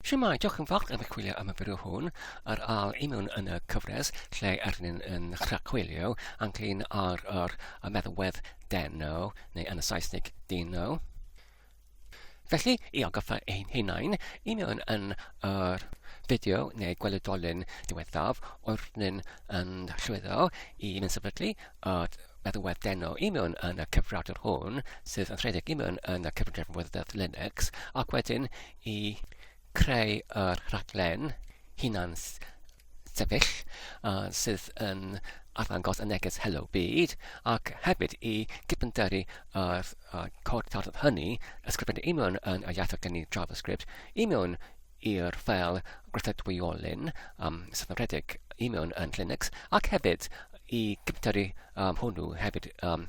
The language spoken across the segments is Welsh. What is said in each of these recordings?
Shwmae, diolch yn fawr am eich chwilio am y fideo hwn ar âl i mewn yn y cyfres lle yr ni'n yn rhagchwilio ynglyn ar yr y meddalwedd deno, neu yn y Saesneg dino. Felly, i agoffa ein hunain, i mewn yn yr fideo neu gweledolyn diwethaf o'r ni'n yn llwyddo i mynd sefydlu y meddalwedd deno i mewn yn y cyfrifiadur hwn, sydd yn rhedeg i mewn yn y cyfrifiadur Linux, ac wedyn i creu yr rhaglen hunan sefyll yy sydd yn arddangos y neges 'Helo Byd' ac hefyd i gyfyngderu yr yy cod tarddiad hynny ysgrifennu i mewn yn y iaith oedd gen i JavaScript i mewn i'r ffeil gweithredwyolyn yym sydd yn rhedeg i mewn yn Linux ac hefyd i gyfyngderu yym hwnnw hefyd yym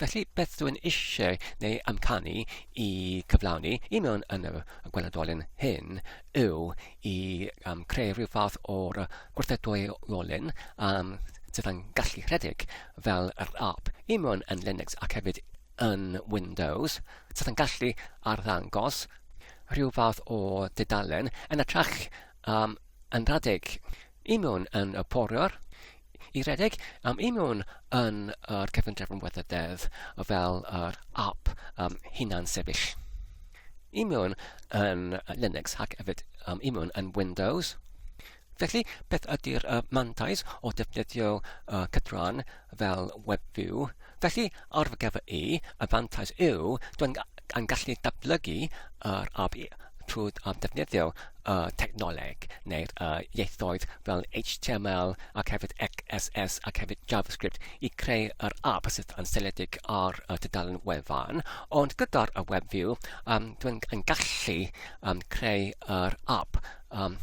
Felly, beth dw i'n eisiau neu amcanu i cyflawni i mewn yn y gweledolyn hyn yw i um, creu rhyw fath o'r gwrthedwyolyn um, sydd yn gallu rhedeg fel yr app i mewn yn Linux ac hefyd yn Windows sydd yn gallu arddangos rhyw fath o dudalen yn y trach um, yn rhedeg Ymuno'n yn y Poriwr i redeg am ymuno yn yr Cyfundrefn am Weather Deddf fel yr app um, hunan-sefyll. Ymuno'n yn Linux ac hefyd um, ymuno'n yn Windows. Felly, beth ydy'r uh, mantais o defnyddio uh, cydran fel Web View, felly ar fy gyfer i, y fantais yw dwi'n yn gallu datblygu yr ab trwy ddefnyddio y technoleg neu'r uh, ieithoedd fel HTML ac hefyd XSS ac hefyd JavaScript i creu yr ab sydd yn seledig ar y tudalen wefan. Ond gyda'r y WebView, um, dwi'n yn gallu um, creu yr ab Um,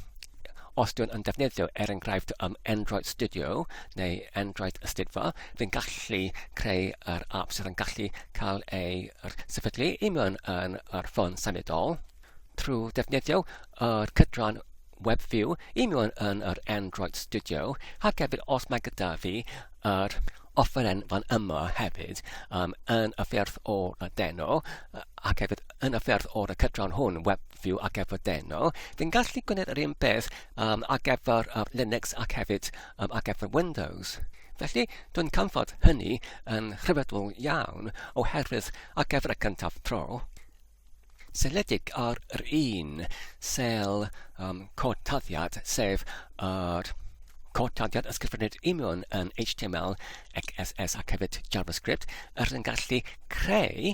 os dwi'n yn defnyddio, er enghraifft, um, Android Studio neu Android Ystudfa, fi'n gallu creu yr app sydd yn gallu cael ei er, sefydlu i mewn yn yr ffôn symudol trwy defnyddio yr cydran WebView i mewn yn yr Android Studio ac hefyd os mae gyda fi yr offeren fan yma hefyd um, yn y ffyrdd o'r deno ac hefyd yn y ffyrdd o'r cydran hwn, web fyw ac efo'r deno, fi'n gallu gwneud yr un peth um, ac efo'r uh, Linux ac hefyd um, ac efo'r Windows. Felly, dwi'n canfod hynny yn rhyfeddol iawn oherwydd ac efo'r y cyntaf tro, seledig ar yr un sel um, cod taddiad, sef yr uh, cortadiad ysgrifennydd union yn HTML, XSS ac hefyd JavaScript, yr yn gallu creu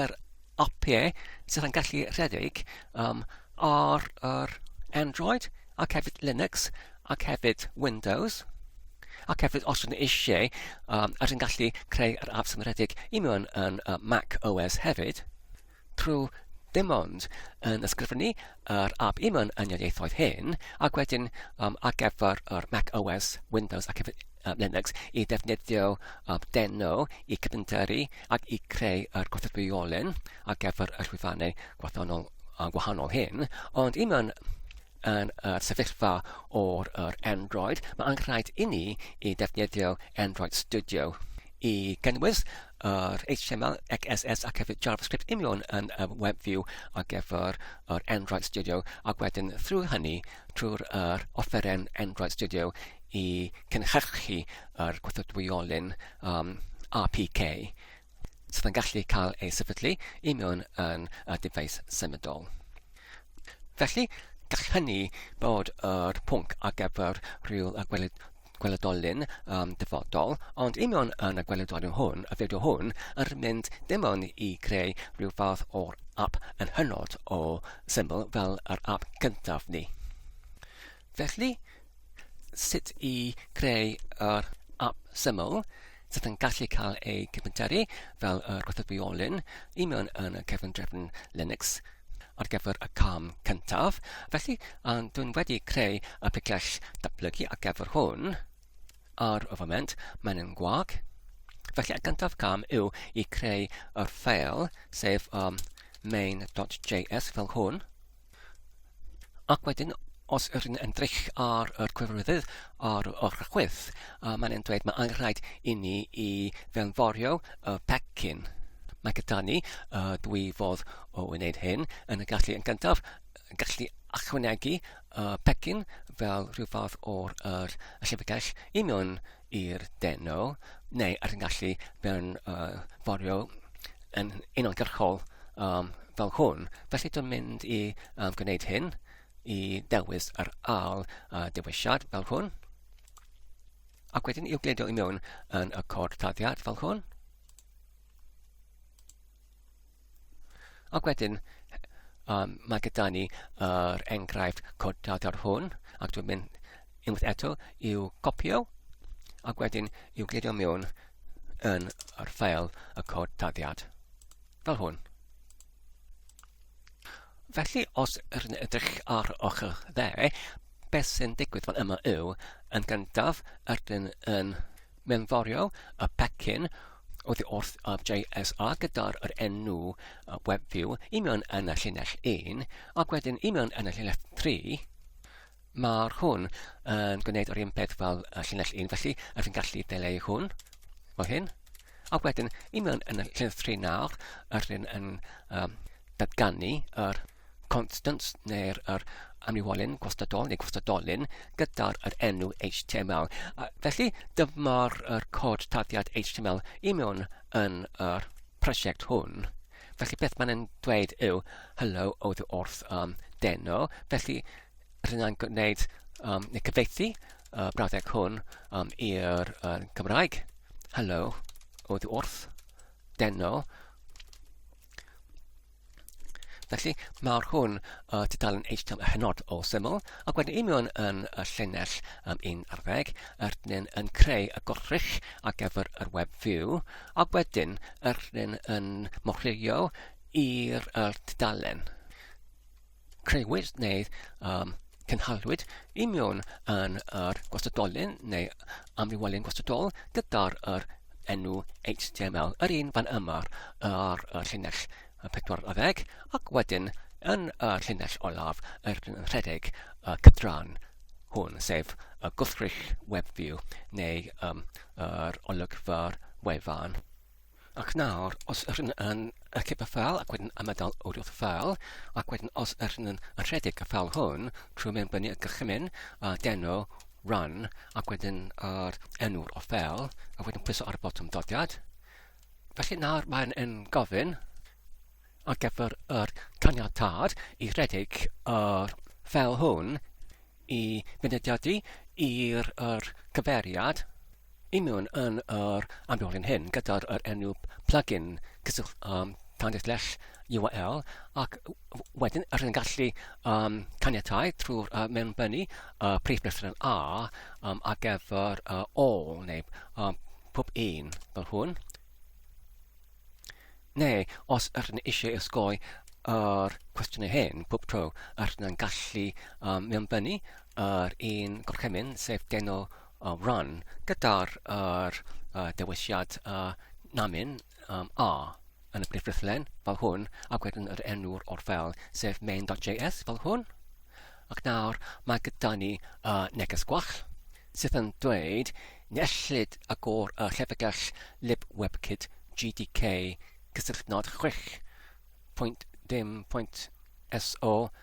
yr apiau sydd yn gallu rhedeg um, ar yr Android ac hefyd Linux ac hefyd Windows ac hefyd os ydyn eisiau um, ar yn gallu creu yr apps yn rhedeg i mewn yn uh, Mac OS hefyd trwy dim ond yn ysgrifennu yr app i mewn yn y ieithoedd hyn, ac wedyn um, ar gyfer yr Mac OS, Windows ac hefyd uh, Linux i ddefnyddio um, deno i cyfyndyru ac i creu yr gwrthrywiolyn ar gyfer y llwyfannau gwahanol, uh, gwahanol hyn, ond i mewn yn y sefyllfa o'r yr Android, mae angen rhaid i ni i ddefnyddio Android Studio i gynnwys yr HTML, CSS ac hefyd JavaScript union yn y web view ar gyfer yr Android Studio ac wedyn thrwy hynny trwy'r er offeren Android Studio i cynhyrchu yr gwrthodwyolyn um, APK sydd yn gallu cael ei sefydlu i mewn yn y dyfais symudol. Felly, gall hynny bod yr pwnc ar gyfer rhyw y gweled Gwelydol Lynn am dyfodol, ond union yn y gwelydol hwn, y fideo hwn, yr mynd dim ond i greu rhyw fath o'r app yn hynod o syml fel yr app cyntaf ni. Felly, sut i creu yr app syml, sydd yn gallu cael eu cyfnteru fel y gwrthwyolyn i mewn yn y cefndrefn Linux ar gyfer y cam cyntaf. Felly, dwi'n wedi creu y picell datblygu ar gyfer hwn. Ar y foment, mae'n yn gwag. Felly, y gyntaf cam yw i creu y ffeil, sef um, main.js fel hwn. Ac wedyn, os yr yn ymdrech ar yr cyfarwyddyd ar y rhagwedd, uh, mae'n yn dweud mae angenrhaid i ni i fewnforio y pecyn. Mae gyda ni uh, dwy fodd o wneud hyn, yn y gallu yn gyntaf, gallu achwanegu uh, pecyn fel rhyw fath o'r uh, llyfrgell i mewn i'r deno, neu ar y gallu mewn uh, forio yn unolgyrchol um, fel hwn. Felly dwi'n mynd i um, gwneud hyn i dewis yr al uh, dewisiad fel hwn. Ac wedyn i'w gleidio i mewn yn y cod taddiad fel hwn. Ac wedyn, um, mae gyda ni yr uh, enghraifft codadar hwn, ac dwi'n mynd unwaith eto i'w copio, ac wedyn i'w glirio mewn yn yr ffeil y cod dadiad, fel hwn. Felly, os rydyn edrych ar ochr dde, beth sy'n digwydd fan yma yw, yn gyntaf, rydyn yn mewnforio y pecyn oddi wrth JSR gyda'r enw WebView i mewn yn y llinell 1 ac wedyn i mewn yn y llinell 3 mae'r hwn yn gwneud yr un peth fel y llinell 1 felly rydyn ni'n gallu deleu hwn fel hyn ac wedyn i mewn yn y llinell 3 nawr rydyn yn um, datganu yr constants neu'r er amlywolyn gwastadol neu gwastadolyn gyda'r er enw HTML. A felly dyma'r er cod taddiad HTML i mewn yn yr prosiect hwn. Felly beth mae'n yn dweud yw hello oedd wrth um, deno. Felly rydyn ni'n gwneud um, neu cyfeithi uh, brawddeg hwn um, i'r uh, Cymraeg. Hello oedd wrth deno. Felly, mae'r hwn uh, tudalen HTML hynod o syml, ac wedyn union yn y llinell um, un ar ddeg, yr dyn yn creu y gorrych ar gyfer yr web view, ac wedyn yr dyn yn morhilio i'r uh, tudalen. creuwyd neu um, cynhaliwyd i mewn yn yr gwastadolyn neu amrywolyn gwastadol gyda'r yr enw HTML, yr un fan yma ar y llinell 40 ac wedyn yn y llinell olaf yr yn rhedeg y cydran hwn, sef y gwrthrych web view neu um, yr olygfa'r wefan. Ac nawr, os yr hyn yn archif y ffeil ac wedyn ymadael wrth y ffeil, ac wedyn os yr hyn yn rhedeg y ffeil hwn trwy mewn fyny y gychymyn, a deno, run, ac wedyn yr enw'r o ffeil, a wedyn pwyso ar y botwm dodiad. Felly nawr mae'n yn gofyn ar gyfer yr caniatad i rhedeg yr ffeil hwn i fynediadu i'r cyferiad Ymuno yn yr amrywio'n hyn gyda'r yr enw plugin cyswllt um, tandyll lles URL ac wedyn rydyn ni'n gallu um, caniatau trwy'r uh, mewnbynnu uh, prif breswyl A um, ar gyfer uh, all neu um, pob un fel hwn. Neu, os ydych ni eisiau ysgoi yr cwestiynau hyn pob tro, ydych ni'n gallu um, mewnbynnu yr un gorchymyn, sef deno a run gyda'r yr uh, dewisiad uh, namin um, a yn y brif ffrithlen fel hwn ac wedyn yr enw'r o'r fel sef main.js fel hwn ac nawr mae gyda ni uh, neges gwall sydd yn dweud nellid agor y llyfrgell lib webkit GDK cysylltnod 6.0.so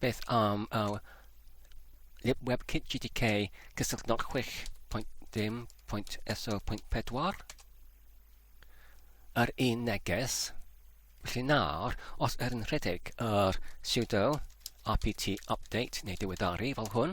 Beth am our libwebkit GTK cysylltu 06.10.SO.4 yr un neges. Felly nawr, os er yn rhedeg yr sudo apt update neu diweddaru fel hwn,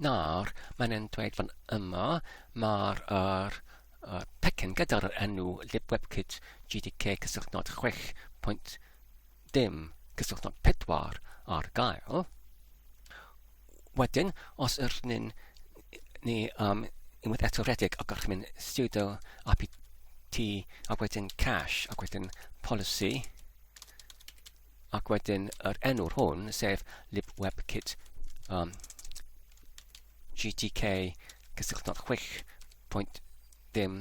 Nawr, mae'n e'n dweud fan yma, mae'r er, er, pecyn gyda'r enw libwebkit GDK cysylltnod 6.0 cysylltnod 4 ar gael. Wedyn, os yr ni'n ni um, unwaith eto redig ac o'ch mynd sudo apt ac wedyn cache ac wedyn policy ac wedyn yr enw'r hwn, sef libwebkit um, GTK cysylltnod 6.0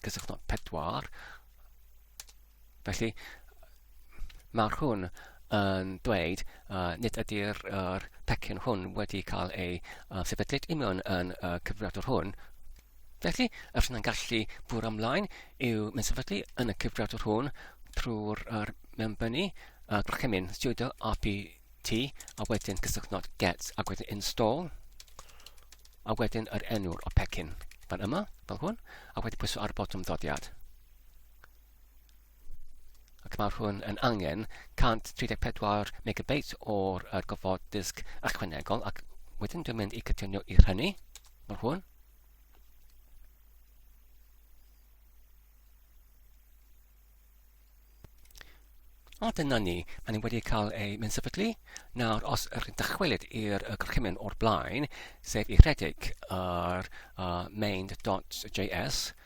cysylltnod 4. Felly, mae'r hwn yn dweud uh, nid ydy'r er pecyn hwn wedi cael ei uh, sefydlyd union yn uh, cyfriadwr hwn, Felly, y rhan yn gallu bwrw ymlaen yw mynd sefydlu yn y cyfriadwr hwn trwy'r er mewnbynnu a gorchymyn sudo rpt a wedyn cysylltnod get a wedyn install a wedyn yr enw'r o pecyn fan yma, fel hwn, a wedyn pwysau ar y botwm ddodiad. ac mae hwn yn angen 134 megabeit o'r uh, gofod disg ychwanegol ac wedyn dwi'n mynd i cytuno i hynny mae hwn A dyna ni, a ni wedi cael ei mynd sefydlu. Nawr, os ydych chi'n dychwelyd i'r gorchymyn o'r blaen, sef i rhedeg yr uh, main.js,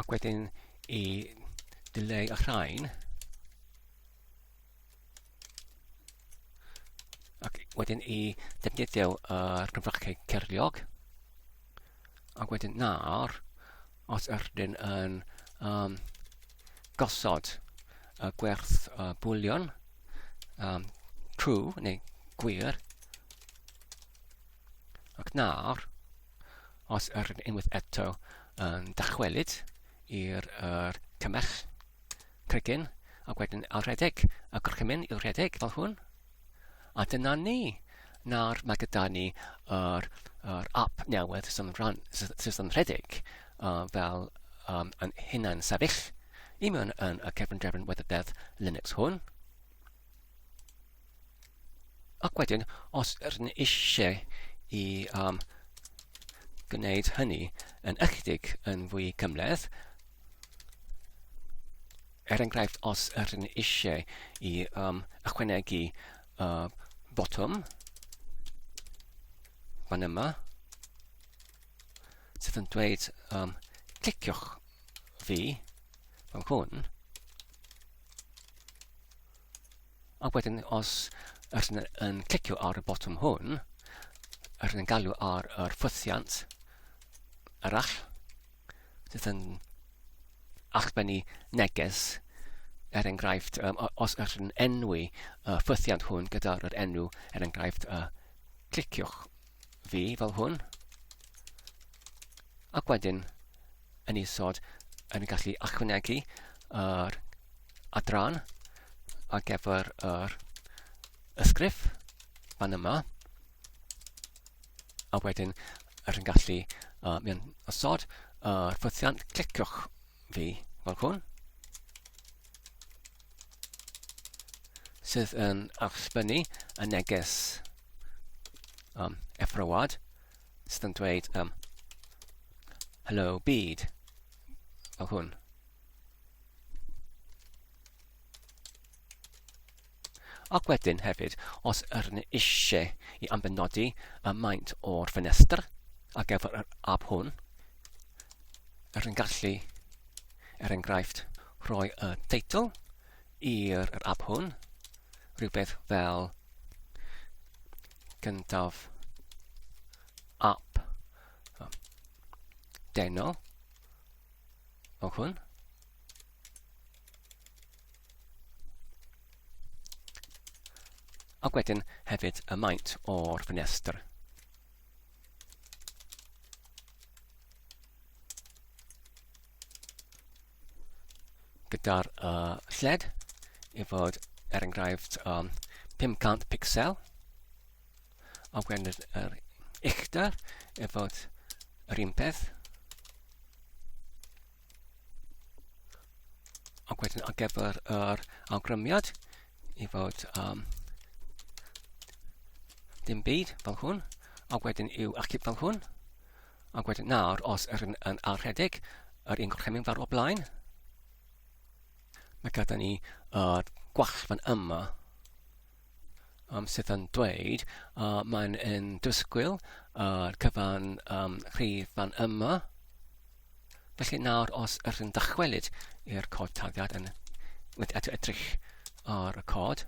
Ac wedyn i dileu y rhain. Ac wedyn i defnyddio yr cyfrachau cerliog. Ac wedyn nawr, os ydyn yn um, gosod y gwerth uh, bwlion um, true neu gwir, Ac nawr, Os yr yn unwaith eto yn dychwelyd i'r er, cymell cregyn ac wedyn a rhedeg y gorchymyn i'w rhedeg fel hwn. A dyna ni. Nawr mae gyda ni yr, yr app newydd sy'n rhan, sydd yn rhedeg uh, fel um, yn hunan sefyll i mewn yn y cefn drefn weddydedd Linux hwn. Ac wedyn, os rydyn ni eisiau i um, gwneud hynny yn ychydig yn fwy cymleth, er enghraifft, os rydyn ni eisiau i um, ychwanegu uh, botwm fan yma, sydd yn dweud um, cliciwch fi, fan hwn, Ac wedyn, os ydych chi'n yn clicio ar y botwm hwn, ydych chi'n galw ar yr ffwythiant arall, sydd yn achbennu neges, er enghraifft, um, os ydych chi'n enwi y ffwythiant hwn gyda'r enw, er enghraifft, uh, cliciwch fi fel hwn, ac wedyn yn isod yn gallu ychwanegu yr adran ar gyfer yr ysgrif fan yma a wedyn yr yn gallu uh, mewn osod uh, ffythiant cliciwch fi fel hwn sydd yn achsbynnu y neges um, effrywad sydd yn dweud um, hello byd fel hwn. Ac wedyn hefyd, os yr yn eisiau i ambenodi y maint o'r ffenestr ar gyfer yr ab hwn, yr yn gallu, er enghraifft, rhoi y teitl i'r yr app hwn, rhywbeth fel gyntaf app deno o hwn. Ac wedyn hefyd y maint o'r ffenestr. gyda'r uh, lled i fod er enghraifft um, 500 pixel a wedyn yr, yr uchder i fod yr un peth a wedyn ar gyfer yr awgrymiad i fod um, dim byd fel hwn a wedyn i'w achub fel hwn Ac wedyn nawr, os yr yn, yn ar rhedeg, yr un gorchymyn farw o blaen. Mae gyda ni uh, gwall fan yma um, sydd yn dweud uh, mae'n yn dysgwyl uh, cyfan um, rhydd fan yma. Felly nawr os yr yn dychwelyd i'r cod taliad yn mynd at edrych ar y cod,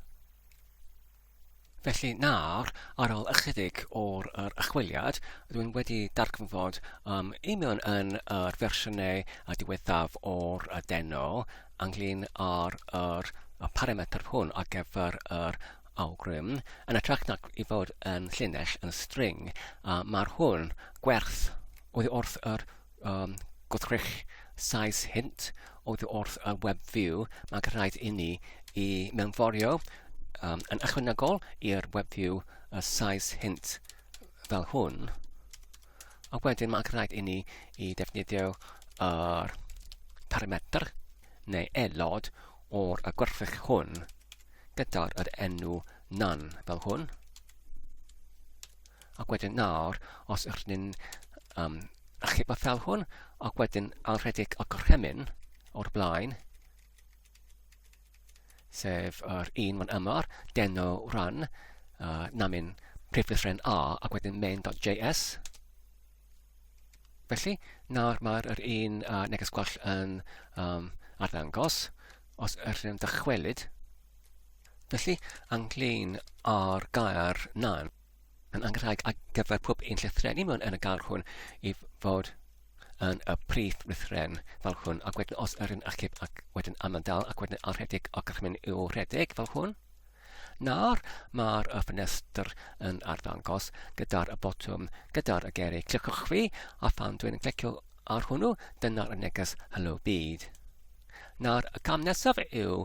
Felly nawr, ar ôl ychydig o'r yr achwiliad, dwi'n wedi darganfod um, union yn yr fersiynau a diwethaf o'r y deno ynglyn â'r yr, y parametr hwn ar gyfer yr awgrym, yn ytrach nac i fod yn llinell yn string, a mae'r hwn gwerth oddi wrth yr um, gwrthrych size hint oedd wrth y web view, mae'n rhaid i ni i mewnforio um, yn ychwanegol i'r web view y size hint fel hwn. A wedyn mae'n rhaid i ni i defnyddio yr parametr neu aelod o'r y gwerthfych hwn gyda'r yr enw nan fel hwn. Ac wedyn nawr, os ydych chi'n um, achub y fel hwn, ac wedyn alredig y gorchymyn o'r blaen, sef yr un fan yma, deno run, uh, namin priflysren A, ac wedyn main.js. Felly, nawr mae'r er un uh, neges gwell yn um, arddangos, os ydych chi'n dychwelyd. Felly, anglyn ar gair nan. yn anrheg ar gyfer pob un llythreni mewn yn y gair hwn i fod yn y prif lythren fel hwn. Ac wedyn os yr yn achub ac wedyn amandal ac wedyn arhedig ac ac mynd i'w rhedeg fel hwn. Nawr mae'r y ffenestr yn arddangos gyda'r y botwm, gyda'r y geri. Cliciwch fi a phan dwi'n clicio ar hwnnw, dyna'r y neges Hello Byd. Nawr, y cam nesaf yw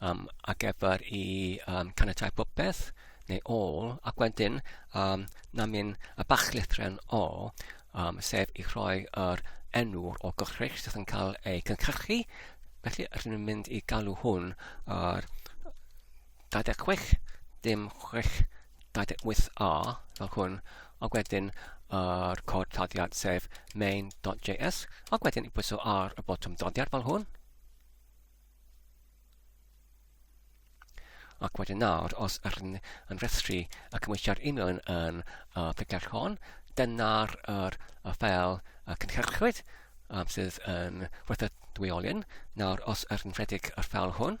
um, a gyfer i um, caniatau popeth neu all, ac wedyn um, na mynd y bach lythren o, um, sef i rhoi yr enw'r o gychrych sydd yn cael ei cynhyrchu. Felly, rydyn ni'n mynd i galw hwn ar 26, dim 6, 28a, fel hwn, a wedyn yr uh, cod taddiad sef main.js, a wedyn i bwyso ar y botwm doddiad fel hwn, Ac wedyn nawr, os rydyn yn rhestru y cymwysiad e-mail yn, yn y picell hon, dyna'r er, y ffel y cynhyrchwyd um, sydd yn werth y dwyolyn. Nawr, os rydyn rhedeg y ffel hwn,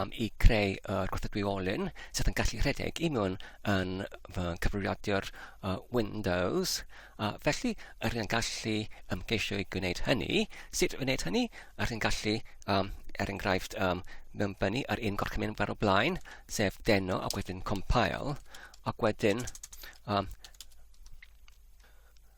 am i creu y gwrthdwyolyn sydd yn gallu rhedeg i mewn yn fy cyfrifiadur uh, Windows. A felly, yr yn gallu ymgeisio i gwneud hynny. Sut wneud hynny? Yr yn gallu, um, er enghraifft, um, mewnbynnu ar un gorchymyn fer o blaen, sef deno ac wedyn compile, ac wedyn um,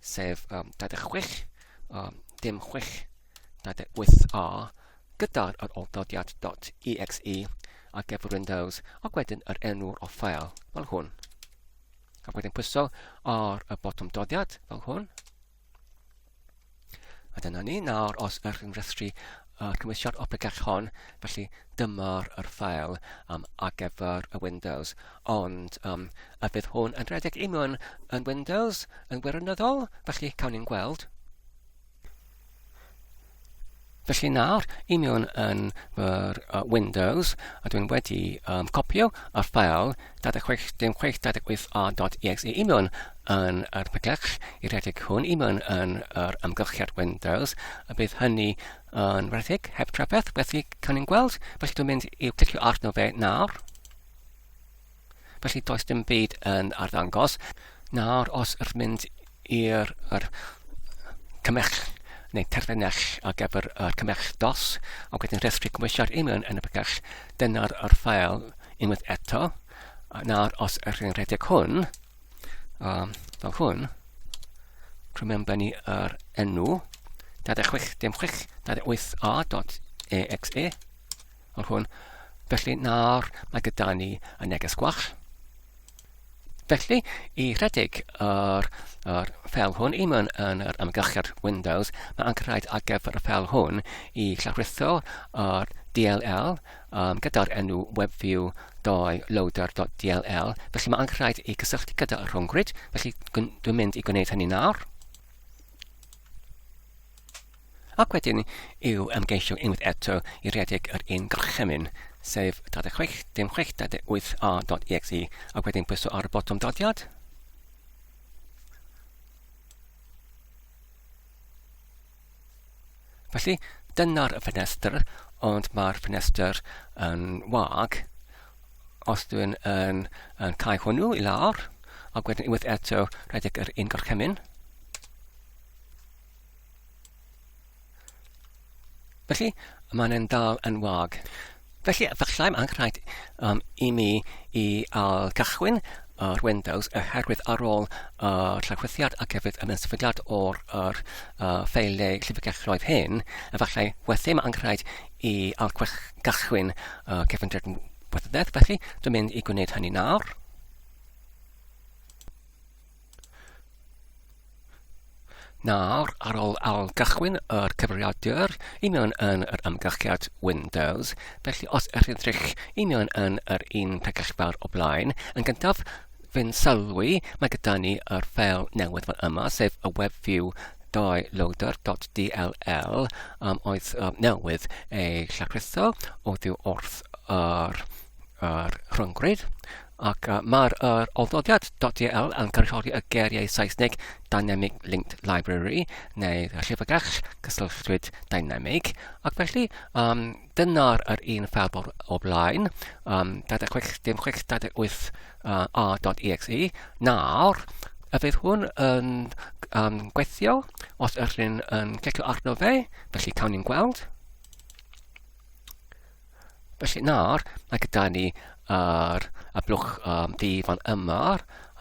sef um, 26, um, dim 6, 28a, gyda'r yr oldodiad .exe ar gyfer Windows, ac wedyn yr enw'r o ffael, fel hwn. Ac wedyn pwyso ar y botwm dodiad, fel hwn. A dyna ni, nawr os ych chi'n rhestru y cymwysiad Optech hon, felly dyma'r yr ffael um, ar gyfer y Windows. Ond um, a fydd hwn yn rhedeg i mewn yn Windows yn wirioneddol? Felly cawn ni'n gweld. Felly nawr, i mewn yn yr uh, Windows, a dwi'n wedi um, copio y ffael 26 dim 6 26 a.dot.exe i mewn yn yr peglach i redeg hwn i mewn yn yr amgylchiad Windows a bydd hynny yn redeg heb trafferth felly cawn ni'n gweld felly dwi'n mynd i'w clicio arno fe nawr felly does dim byd yn arddangos nawr os ydych mynd i'r yr cymell neu terfynell ar gyfer y cymell dos ac wedyn rhestru cymwysiad union yn y bygell dyna'r yr ffael unwaith eto nawr os ydych chi'n rhedeg hwn um, fel hwn trwy mewn benni yr enw 26 dim 6 28a dot exe fel hwn felly nawr mae gyda ni y neges gwach Felly, i rhedeg yr, yr ffel hwn i mewn yn yr amgylchiad Windows, mae angen rhaid ar gyfer y ffel hwn i llawrytho yr DLL um, gyda'r enw webview doi loader.dll. Felly mae angen rhaid i gysylltu gyda y rhwngwyd, felly dwi'n mynd i gwneud hynny nawr. Ac wedyn i'w ymgeisio unwaith eto i redeg yr un gorchymyn, sef 36 dim 6 38 a.exe, ac wedyn pwyso ar y botwm dodiad. Felly, dyna'r ffenestr, ond mae'r ffenestr yn wag. Os dwi'n yn, yn cael hwnnw i lawr, ac wedyn unwaith eto rhedeg yr un gorchymyn, Felly, mae'n e'n dal yn wag. Felly, efallai mae'n rhaid um, i mi i al cychwyn yr Windows oherwydd ar ôl y llawchwythiad ac hefyd y meddylfydiad o'r yr, uh, ffeiliau llyfrgelloedd hyn, efallai wedyn mae'n rhaid i al gychwyn uh, cefndir wethydedd. Felly, dwi'n mynd i gwneud hynny nawr. Nawr, ar ôl ail-gychwyn yr cyfrifiadur, union yn yr amgylchiad Windows, felly os ych chi'n edrych union yn yr un pegell fawr o blaen, yn gyntaf, fe'n sylwi, mae gyda ni yr ffeil newydd fan yma, sef y WebView doyloader.dll um, oedd um, newydd ei llachrutho o ddiw wrth yr, yr rhyngrwyd. Ac mae'r yr ofnodiad.dll yn cynrychioli y geiriau Saesneg Dynamic Linked Library, neu llyfrgell gysylltwyd dynamig, ac felly um, dyna'r yr un ffel o'r o blaen, um, 26 dim 628 uh, a.exe. Nawr, a fydd hwn yn um, gweithio os ydych chi'n um, clicio arno fe, felly cawn ni'n gweld. Felly nawr, mae gyda ni yr y blwch um, di fan yma,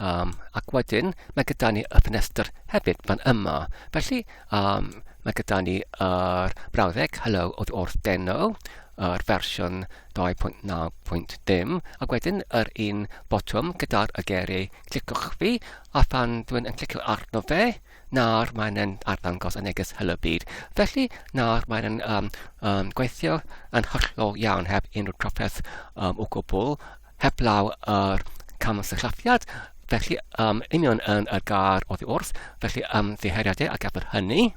um, ac wedyn mae gyda ni y ffenestr hefyd fan yma. Felly, um, mae gyda ni yr brawddeg Hello od wrth deno, yr fersiwn 2.9.dim, ac wedyn yr un botwm gyda'r y geri, clicwch fi, a phan dwi'n yn clicio arno fe, Nawr mae'n yn arddangos y neges Helo Byd. Felly, nawr mae'n yn um, um, gweithio yn hollol iawn heb unrhyw trafferth um, o gwbl, heblaw yr er camsyllathiad, felly um, union yn y gar oddi wrth, felly um, ddiheriadau a gafodd hynny.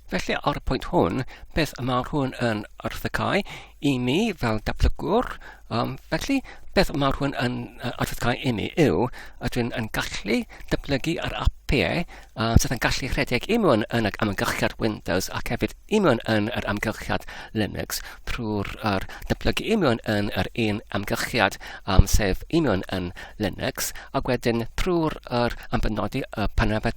Felly, ar y pwynt hwn, beth y mae hwn yn arddegau i mi fel datblygwr? Um, felly, beth y mae hwn yn arddegau i mi yw, ydw'n yn gallu datblygu ar apiau uh, sydd yn gallu rhedeg i mewn yn yr amgylchiad Windows ac hefyd i mewn yn yr amgylchiad Linux trwy'r er, datblygu i mewn yn yr un amgylchiad um, sef i mewn yn Linux ac wedyn trwy'r er, ambenodi y panabed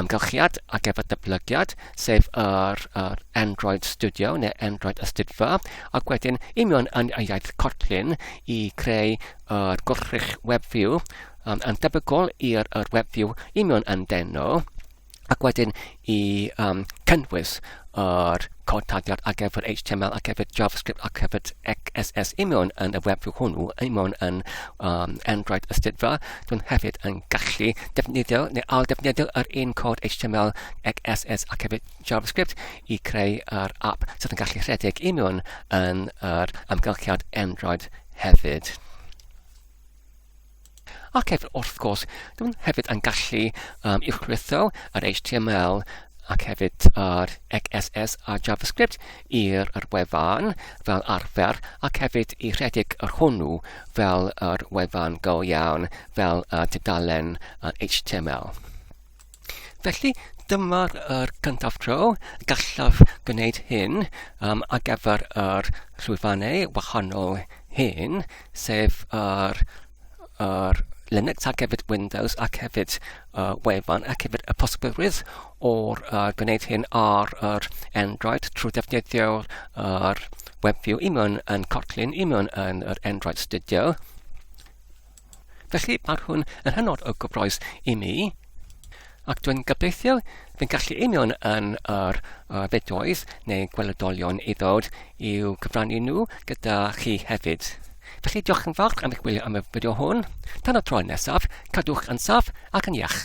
amgylchiad ac efo dyblygiad, sef yr, yr Android Studio neu Android Ystudfa, ac wedyn i mewn yn y iaith Kotlin i creu yr gwrthrych web view um, yn debygol i'r web view i mewn yn deno, ac wedyn i um, cynnwys yr cod tarddiad ar gyfer HTML ar gyfer JavaScript ar gyfer CSS i mewn yn y webfru hwnnw, i mewn yn um, Android ystudfa, dwi'n hefyd yn gallu defnyddio neu al defnyddio yr un cod HTML, CSS ar gyfer JavaScript i creu yr app sydd yn gallu rhedeg i mewn yn yr amgylchiad Android hefyd. Ac hefyd, wrth gwrs, dwi hefyd yn gallu um, uwchlwytho yr HTML ac hefyd yr XSS a JavaScript i'r yr wefan fel arfer ac hefyd i rhedeg yr hwnnw fel yr wefan go iawn fel y tudalen HTML. Felly, dyma'r er gyntaf tro gallaf gwneud hyn um, ar gyfer yr llwyfannau wahanol hyn, sef yr, yr Linux ac hefyd Windows ac hefyd uh, wefan ac hefyd y posibylrwydd o'r uh, gwneud hyn ar yr Android trwy defnyddio'r uh, WebView i mewn yn Kotlin, i mewn yn yr Android Studio. Felly, mae hwn yn hynod o gyffroes i mi, ac dwi'n gobeithio fy gallu union yn yr uh, fideoedd neu gweledolion i ddod i'w cyfrannu nhw gyda chi hefyd. Felly diolch yn fawr am eich gwylio am y fideo hwn. Tan y tro nesaf, cadwch yn saf ac yn iach.